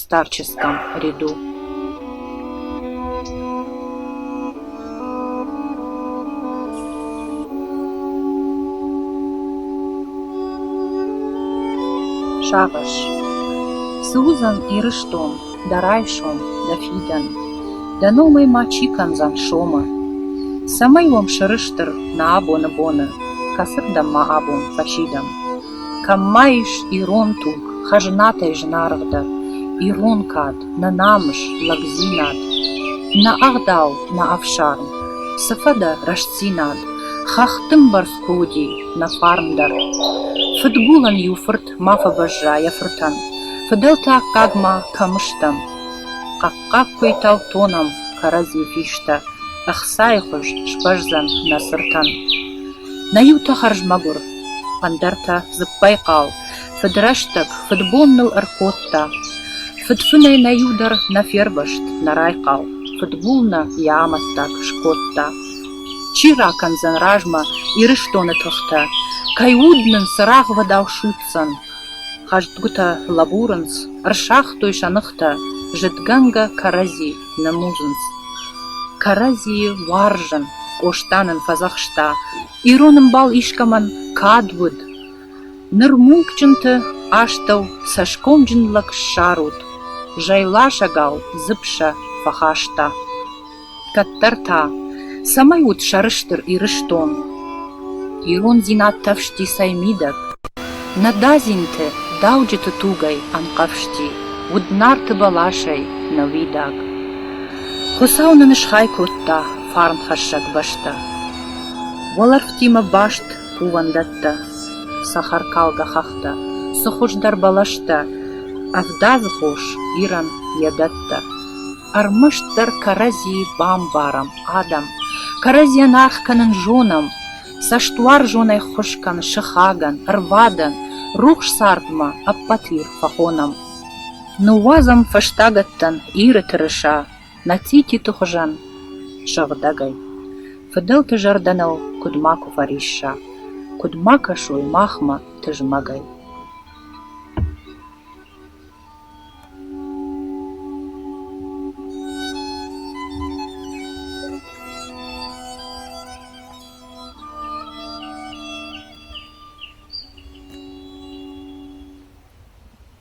старческом ряду Шагъыш Цы уыдзӕн Ирыстон дӕ райсом, дӕ фидӕн? Дӕ номӕй ма чи кӕндзӕн сомы? Цӕмӕй уӕм сӕрыстыр нӕ абоны боны, Кӕцырдӕм ма абон фӕсидӕм? Кӕм ма ис ирон туг, хӕзнатӕй зынаргъдӕр, ирон кад, нӕ намыс, лӕгдзинад, нӕ ӕгъдау, нӕ ӕфсарм, цы фӕдӕ рӕстдзинад, хӕхты мбӕрц куы уыди нӕ фарн дӕр. Фыдгулӕн-иу фырт ма фӕбӕзза йӕ фыртӕн, фыдӕлты аккаг ма кӕм стӕм. Хъӕхъхъаг куыйтау тонӕм кӕрӕдзи фистӕ, ӕхцайы хуыз сбӕздзӕн нӕ цыртӕн. Нӕ иутӕ хӕрз мӕгуыр, Ӕндӕртӕ дзыппӕй хъал, фыдрӕстӕг, фыдбон ныл ӕркодта. Фыдцунӕй нӕ иу дӕр нӕ фервӕзт, нӕ райхъал, фыдгул нӕ йӕ амӕттаг скодта. Чи ракӕндзӕн размӕ Ирыстоны тыхтӕ, кӕй уд нын цырагъвӕдау суйтдзӕн? Хӕстгуытӕ лӕбурынц, ӕрсагътой сӕ ныхтӕ, зыдгӕнгӕ кӕрӕдзи нымудзынц. Кӕрӕдзийы уарзын Къоста нын фӕдзӕхста, Ирон ӕмбал искӕмӕн кад уыд, Ныр мулкджынты астӕу цӕсгомджын лӕг ссарут, Зӕйласӕгау дзыпсӕ фӕхаста. Кӕддӕр та, цӕмӕй ут сӕрыстыр Ирыстон? Ирондзинад тӕфсти цӕй мидӕг, Нӕ дадзинты, дауджыты тугӕй ӕнхъӕвзти, Уыд нарты бӕласӕй нӕ уидаг. Хуыцау нын схай кодта фарнхӕссӕг бӕстӕ. Уӕлӕрвтимӕ баст кувӕндӕттӕ, цӕхӕркалгӕ хӕхтӕ, цы хуыздӕр бӕлӕстӕ, ӕвдадзы хос, ирӕн йӕ дӕттӕ. Ӕрмӕстдӕр кӕрӕдзи бамбарӕм адӕм, кӕрӕдзийӕн аргъ кӕнын зонӕм, цӕстуарзонӕй ххуыс кӕны сыхагӕн, ӕрвадӕн, рухс цардмӕ ӕппӕт Ир фӕхонӕм. Ныууадзӕм фӕстагӕттӕн Иры тырыса, Мӕцъититы хуызӕн сыгъдӕгӕй, фыдӕлты зӕрдӕныл куыд макуы фӕрисса, куыд ма кӕсой махмӕ тызмӕгӕй.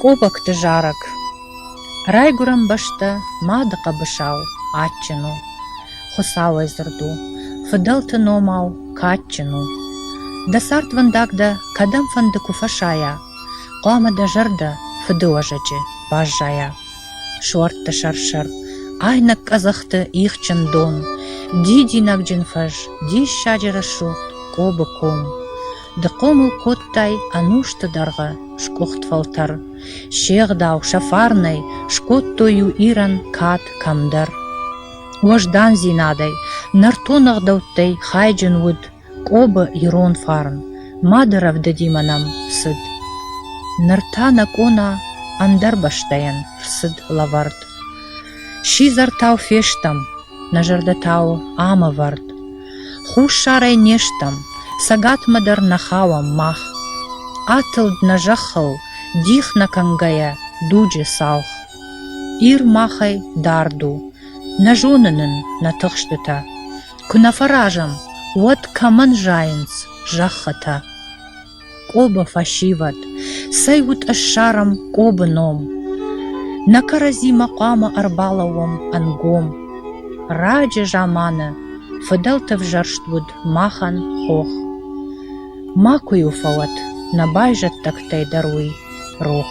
Къобӕгты зарӕг Райгуырӕн бӕстӕ, мады хъӕбысау, адджын у. Хуыцауӕй дзырд у, фыдӕлты номау кадджын у. Дӕ цардвӕндаг дӕ кӕдӕмфӕнды куы фӕсайа, хъуамӕ дӕ зӕрдӕ фыды уӕзӕджы баззайа. Суӕртты сӕр-сӕр, айнӕг къӕдзӕхты ихджын дон, дидинӕгджын фӕз, диссаджы рӕсугъд Кобы ком. Ды хъомыл кодтай ӕнусты дӕргъы скъуыхт фӕлтӕр, се гъдау сӕ фарнӕй скодтой-иу Ирӕн кад кӕмдӕр. Уӕздандзинадӕй, нӕртон ӕгъдӕуттӕй хайджын уыд Къобы ирон фарн, мады рӕвдыдимӕ нӕм цыд. Ныр та нӕ къона ӕндӕр бӕстӕйӕн рцыд лӕвӕрд. Сидзӕртау фестӕм, нӕ зӕрдӕтау ӕмӕвӕрд. Хуссарӕй не стӕм, цӕгатмӕ дӕр нӕ хауӕм мах. Атылд нӕ зӕххыл, дих нӕ кӕнгӕйӕ дуджы цалх. Ир махӕй дард у, нӕ зоны нын нӕ тыхстытӕ. Куы нӕ фӕразӕм, уӕд кӕмӕн зайынц зӕххытӕ? Къоба фӕсивӕд, цӕй уд ссарӕм Къобы ном! Нӕ кӕрӕдзимӕ хъуамӕ ӕрбалӕууӕм ӕнгом. Раджы заманы фыдӕлты взӕрст уыд махӕн хох. Макуы иу фӕуӕд нӕ байзӕддӕгтӕй дӕр уый рох.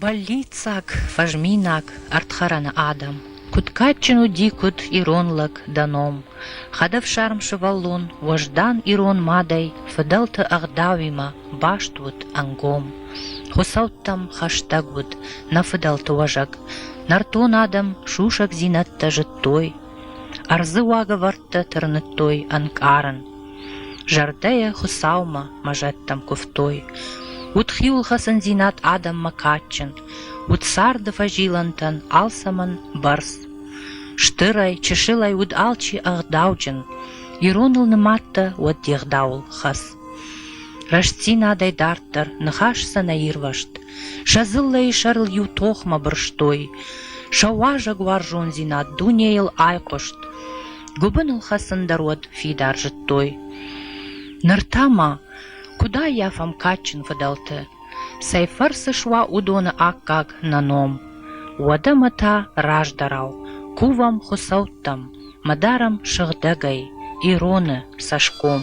Бӕллиццаг, фӕзминаг, ӕрдхӕрӕны адӕм. Куыд кадджын уыди куыд ирон лӕг дӕ ном! Хӕдӕфсарм сывӕллон, уӕздан ирон мадӕй, фыдӕлты ӕгъдауимӕ баст уыд ӕнгом. Хуыцӕуттӕм хӕстӕг уыд, нӕ фыдӕлты уӕзӕг. Нӕртон адӕм сусӕгдзинӕдтӕ зыдтой, ӕрдзы уагӕвӕрдтӕ тырныдтой ӕнкъарын. Зӕрдӕйӕ Хуыцаумӕ, мӕ зӕдтӕм куывтой. Уыд хиуылхӕцындзинад адӕммӕ кадджын, уыд царды фӕзилӕнтӕн алцӕмӕн бӕрц. Стырӕй, чысылӕй уыд алчи ӕгъдауджын, ироныл нымадтӕ уӕд де гъдауыл хӕц. Рӕстдзинадӕй дарддӕр ныхас сӕ нӕ ирвӕзт, сӕ дзыллӕйы сӕрыл иу тохмӕ бырстой, сӕ уазӕгуарзондзинад дунейыл айхъуыст. Гуыбыныл хӕцын дӕр уӕд фидар зыдтой. Ныр та ма куыд аййафӕм кадджын фыдӕлты? Цӕй фӕрцы суа уыдоны аккаг нӕ ном? Уӕдӕ мӕ та раздӕрау кувӕм хуыцӕуттӕм, мӕ дарӕм сыгъдӕгӕй, ироны цӕсгом.